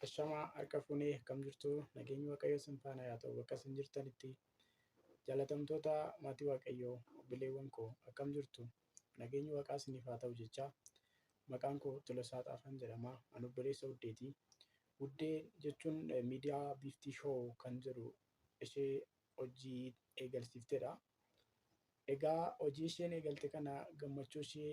Ashamaa harka fuunee akkam jirtu nageenyi waaqayyo sin faana yaa ta'u bakka sin jirtanitti jaalatamtoota maatii waaqayyo obboleewwan koo akkam jirtu nageenyi waaqaa siniif haa ta'u jecha maqaan koo Tolosaa Xaafaan jedhama an obboleessa Wuddeeti. Wuddee jechuun eh, miidiyaa biiftii shoo kan jedhu ishee hojii eegalsiifteedha. Egaa hojii isheen eegalte kana gammachuu ishee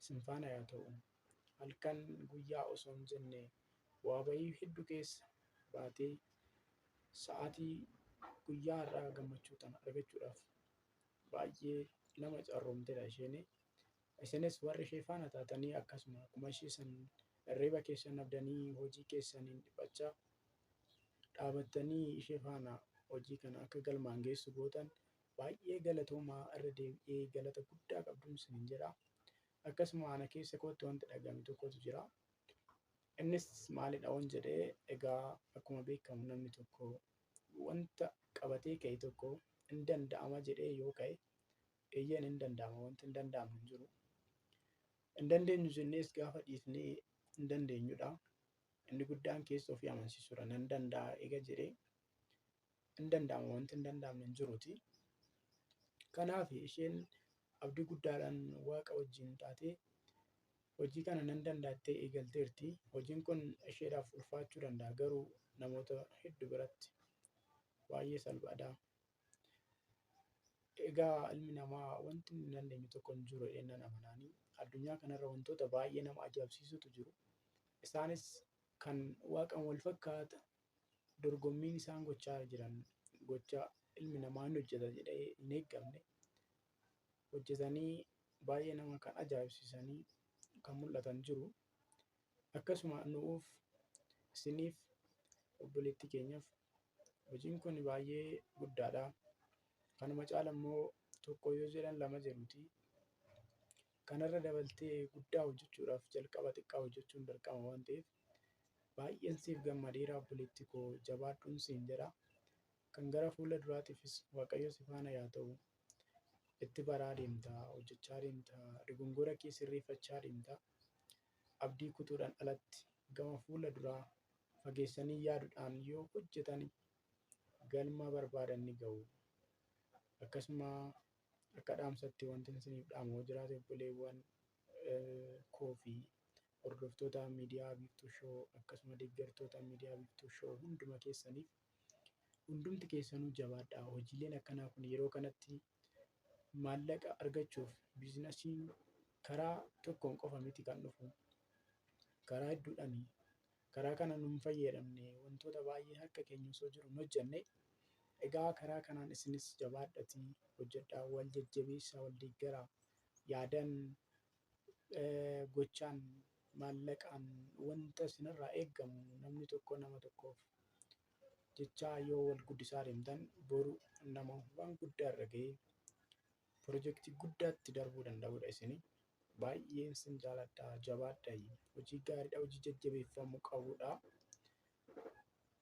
isin faana yaa ta'u. Halkan guyyaa osoo hin jenne bu'aa bahii heddu keessa baatee sa'aatii guyyaa har'aa gammachuu tana argachuudhaaf baay'ee nama carroomtedha isheen. Isinis warri ishee faana taatanii akkasuma akkuma ishee san irriba keessan abdanii hojii keessaniin dhiphachaa dhaabattanii ishee faana hojii kana akka galmaan geessu gootan Baay'ee galatoomaa irra deebi'ee galata guddaa qabduun sinin jedha. Akkasuma ana keessa kootti wanti dhaga'ame tokkotu jira. Innis maalidha waan jedhee egaa akkuma beekamu namni tokko wanta qabatee ka'e tokko hin danda'ama jedhee yoo ka'e eeyyeen hin danda'ama wanti hin danda'amu hin jiru. Hin dandeenyu jennees gaafa dhiifnee hin dandeenyudha. Inni guddaan keessa ofii amansiisuudha nan danda'a eega jedhee hin danda'amu wanti hin danda'amne hin jiruuti. Kanaaf isheen abdii guddaadhaan waaqa wajjin taatee hojii kana nan danda'attee eegalteerti. Hojiin kun isheedhaaf ulfaachuu danda'a garuu namoota hedduu biratti baay'ee salphaadha. Egaa ilmi namaa wanti hin dandeenye tokko hin jiru jedhee nan amanaanii. Addunyaa kanarra wantoota baay'ee nama ajaa'ibsiisutu jiru. Isaanis kan waaqan wal fakkaata dorgommiin isaan gochaa jiran gocha ilmi namaa ni hojjeta jedhee hin eeggamne hojjetanii baay'ee nama kan ajaa'ibsiisanii kan mul'atan jiru. Akkasuma nu'uuf isiniif obboleettii keenyaaf hojiin kun baay'ee guddaadha. Kanuma caala immoo tokko yoo jedhan lama jedhuuti. Kanarra dabaltee guddaa hojjechuudhaaf jalqaba xiqqaa hojjechuun dirqama waan ta'eef Baay'een siif gammadeera obboleetti koo jabaadhuun siin jedha. Kan gara fuula duraatiifis Waaqayyo si faana yaa ta'u. Itti baraa deemta, hojjechaa deemta, dogongora kee sirreeffachaa deemta. Abdii kutuudhaan alatti gama fuula duraa fageessanii yaaduudhaan yoo hojjetan galma barbaadan ni ga'u. Akkasuma akka dhaamsatti wanti isiniif dhaamu jiraate obboleewwan koo fi Hordoftoota Miidiyaa Biiftuu Show akkasuma deeggartoota Miidiyaa Biiftuu Show hunduma keessaniif hundumti keessanuu jabaadhaa. Hojiileen akkanaa kun yeroo kanatti maallaqa argachuuf biizinasiin karaa tokkoon qofa miti kan dhufu. Karaa hedduudhaani. Karaa kana nun fayyadamne wantoota baay'ee harka keenya osoo jiru hin hojjenne. Egaa karaa kanaan isinis jabaadhatii hojjedhaa wal jajjabeessaa wal deeggaraa. Yaadan gochaan, maallaqaan wanta isinirraa eegamu namni tokko nama tokkoof jechaa yoo wal guddisaa deemtan boru nama waan guddaa irra ga'ee pirojektii guddaatti darbuu danda'udha isin baay'een sin jaaladha jabaadha hojii gaariidha hojii jajjabeeffamuu qabudha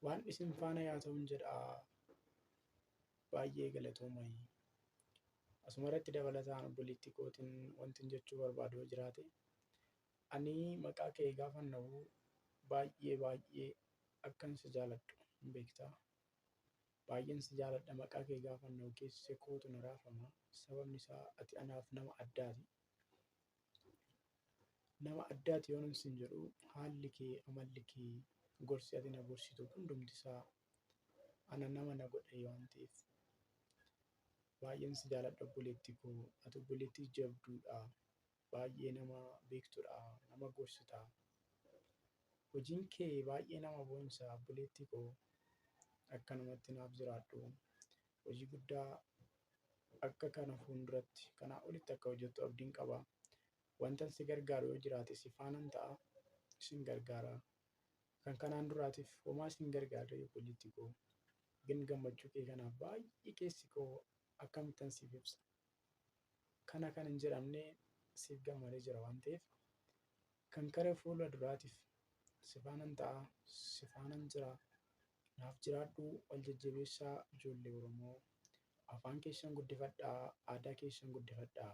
waan isin faana yaa ta'uun jedha Baay'ee galatoomayi. Asumarratti dabalataan obboleettii kootiin wantin jechuu barbaadu yoo jiraate ani maqaa kee gaafan dhahu baay'ee baay'ee akkan si jaaladhu hin beektaa. Baay'een si jaaladha maqaa kee gaafan dhahu keessi kootu na raafama sababni isaa ati anaaf nama addaati. Nama addaati yoonan sin jedhu haalli kee amalli kee gorsi ati na gorsitu hundumti isaa ana nama na godhe waan ta'eef baay'een si jaaladha obboleetti koo ati obboleettii jabduudha baay'ee nama beektudha nama gorsita hojiin kee baay'ee nama boonsa obboleettii koo akkanumatti naaf jiraadhu hojii guddaa akka kana fuulduratti kanaa olitti akka hojjettu abdiin qaba wantan si gargaaru yoo jiraate si faanan ta'a isin gargaara Kan kanaan duraatiif homaa siin gargaarree obboleetti koo. Gin gammachuu kee kanaaf baay'ee keessi koo akkamittan siif ibsa. Kana kan hin jedhamne siif gammadee jira waan ta'eef kan kara fuula duraatiif sifaanan ta'a sifaanan jira naaf jiraadhu wal jajjabeessaa ijoollee Oromoo afaan keessan guddifadhaa aadaa keessan guddifadhaa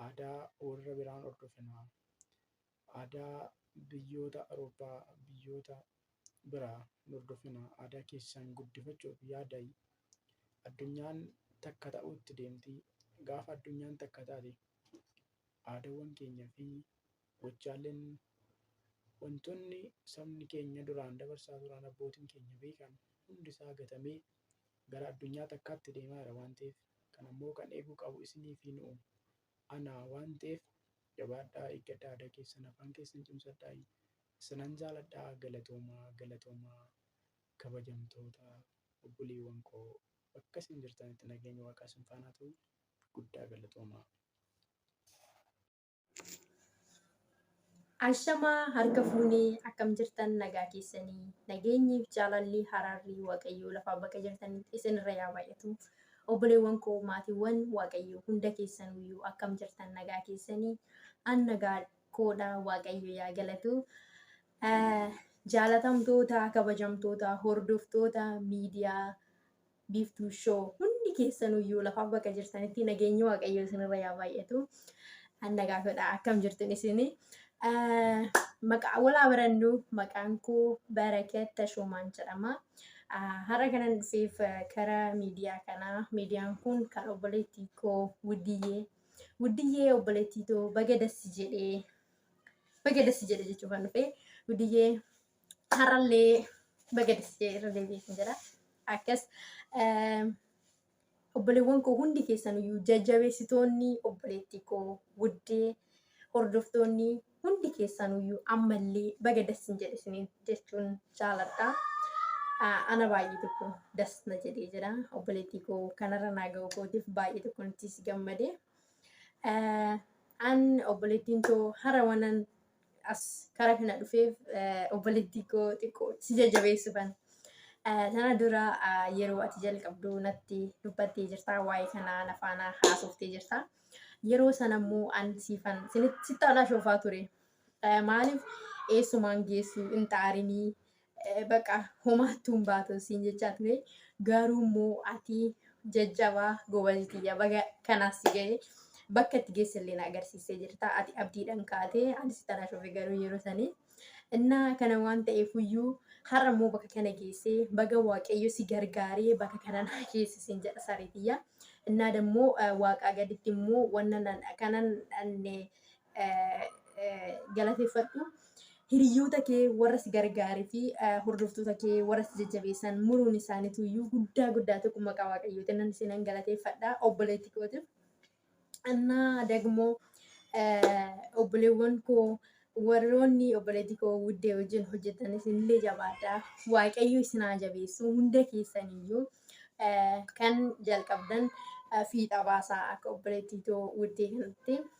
aadaa warra biraan hordofinaa Aadaa biyyoota Awurooppaa, biyyoota biraa hin hordofina. Aadaa keessan guddifachuuf yaadaa. Addunyaan takka ta'uutti deemti. Gaafa addunyaan takka taate aadaawwan keenya fi gochaaleen wantoonni sabni keenya duraan dabarsaa turan abbootiin keenya beekan hundi isaa gatamee gara addunyaa takkaatti deemaa jira waan ta'eef kan ammoo kan eeguu qabu isinii fi nu'u. anaa waan ta'eef jabaadhaa eeggadhaa aadaa keessan afaan keessan cimsadhaa isinan jaaladhaa galatoomaa galatoomaa kabajamtoota obboleewwan koo bakka isin jirtanitti nageenyi waaqaa isin faanaa ta'u guddaa galatoomaa. Ashamaa harka fuune akkam jirtan nagaa keessani nageenyiif jaalalli haraarri waaqayyoo lafaa bakka jirtanitti isin irra yaa baay'atu obboleewwan koo maatiiwwan waaqayyoo hunda keessanuyyuu akkam jirtan nagaa keessani an nagaa koodha waaqayyo yaa galatu jaalatamtoota kabajamtoota hordoftoota miidiyaa Biiftuu Show hundi keessanuyyuu lafa bakka jirtanitti nageenyi waaqayyoo isinirra yaa baay'atu. Anna gaafadha akkam jirtun isin. Maqaa walaa barannu maqaan koo Barakat Tashoomaan jedhama. Har'a kanan dhufeef kara miidiyaa kanaa miidiyaan kun kan obboleettii koo Wuddiyyee. Wuddiyyee obboleettii too baga dassi jedhee baga dassi jedhe jechuuf kan dhufe Wuddiyyee Har'allee baga dessee irra deebi'ee kan jedha. Akkas obboleewwan koo hundi keessaniyyuu jajjabeessitoonni obboleettii koo wuddee hordoftoonni hundi keessaniyyuu ammallee baga dassin jedhe isiniin jechuun jaaladha. Ana baay'ee tokko das na jedhee jira. Obboleettii koo kanarra naa ga'u kootiif baay'ee tokko nuttis gammade. An obboleettiin koo hara wanan as kara kana dhufeef obboleettii koo xiqqoo si jajjabeessuufan. Sana dura yeroo ati jalqabdu natti dubbattee jirta waa'ee kanaa na faana haasoftee jirta. Yeroo sana immoo an siifan sitti aanaa shoofaa ture. Maaliif eessumaan geessu hin xaarinii Baqa homaattuu hin baatu siin jechaa ture. Garuu immoo ati jajjabaa gobazi tiyya baga kanaas si ga'e. Bakka itti geesse illee na agarsiisee jirta. Ati abdiidhaan kaate anis tana shofe garuu yeroo sanii. Innaa kana waan ta'eef iyyuu har'a immoo bakka kana geessee baga waaqayyo si gargaaree bakka kana na geesse siin jedha saree tiyya. Innaa immoo waaqaa gaditti immoo wanna kanan galateeffadhu. Hiriyoota kee warra si gargaaree fi hordoftoota kee warra si jajjabeessan muruun isaaniitu iyyuu guddaa guddaa tokko maqaa waaqayyootiin nan isinan galateeffadha obboleetti kootiif. Annaa dagmoo obboleewwan koo warroonni obboleetti koo wuddee wajjin hojjetan isinillee jabaadha. Waaqayyo isin haa jabeessu hunda keessan iyyuu kan jalqabdan fiixa baasaa akka obboleetti too wuddee kanatti.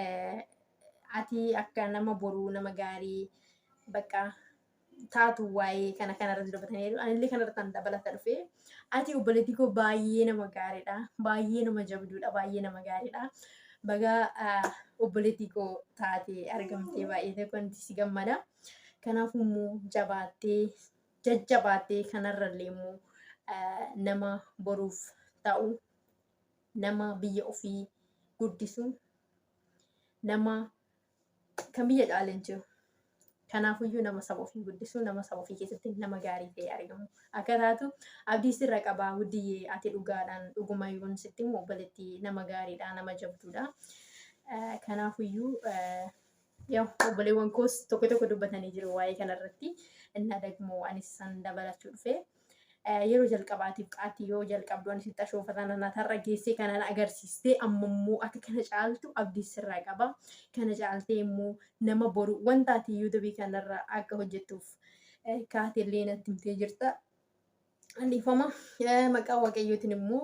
Eh, ati akka nama boruu nama gaarii bakka taatu waa'ee kana kanarratti dubbataniiru anillee kanarratti an dabalata dhufe ati obboleettii koo baay'ee nama gaariidha baay'ee nama jabduudha baay'ee nama gaariidha bagaa ah, obboleettii koo taatee argamtee baay'ee ta'e wanti si gammada kanaaf immoo jabaattee jajjabaattee kanarrallee immoo ah, nama boruuf ta'u nama biyya ofii guddisu nama kan biyya caale hin jiru. Kanaafuyyuu nama saba ofii guddisu nama saba ofii keessatti nama gaarii ta'ee argamu akka taatu abdii sirra qaba guddiyyee ati dhugaadhaan dhuguma yoon sitti immoo obboleetti nama gaariidha nama jabduudha. Kanaafuyyuu ያው obboleewwan koos tokko tokko dubbatanii jiru waa'ee kanarratti እና ደግሞ anis san dabalachuu dhufe yeroo jalqabaatiif qaatti yoo jalqabdu anis itti ashoofa tanana tarra geessee kanan agarsiistee amma immoo akka kana caaltu abdii sirraa qaba kana caaltee immoo nama boru wanta ati yuutubii kanarra akka hojjettuuf kaatellee natti himtee jirta Dhiifama maqaa waaqayyootiin immoo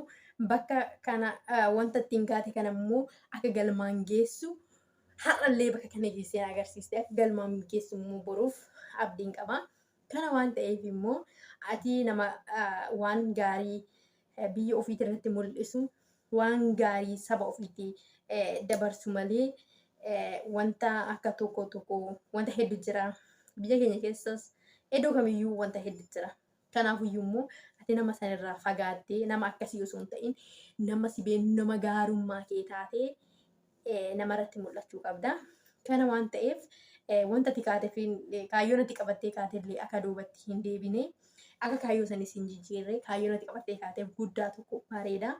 bakka kana wanta ittiin gaate kana immoo akka galmaan geessu har'allee bakka kana geessee agarsiiste akka galmaan geessu immoo boruuf abdiin qaba. Kana waan ta'eef immoo ati nama waan gaarii biyya ofiitii irratti mul'isu waan gaarii saba ofiitti dabarsu malee wanta akka tokko tokko wanta heddu jira. Biyya keenya keessas iddoo kamiyyuu wanta heddu jira. Kanaafuyyuu immoo ati nama san irraa fagaattee nama akkasii osoo hin ta'in nama si beenu nama gaarummaa kee taatee eh, nama irratti mul'achuu qabda. Kana waan ta'eef eh, wanta ati kaatee fi eh, kaayyoon ati qabattee kaatee illee akka duubatti hin deebine akka kaayyoo sanis hin jijjiirre kaayyoon ati qabattee kaatee guddaa tokko bareeda.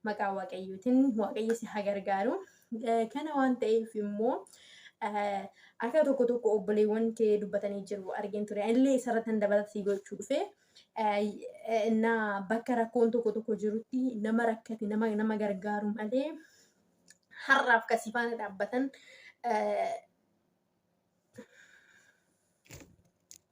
maqaa waaqayyootiin waaqayyo si haa gargaaru. Kana waan ta'eef immoo akka tokko tokko obboleewwan kee dubbatanii jiru argin ture. Illee isarratti hin dabalata si gochuu dhufe. Innaa bakka rakkoon tokko tokko jirutti nama rakkate nama nama gargaaru malee har'aaf kan si faana dhaabbatan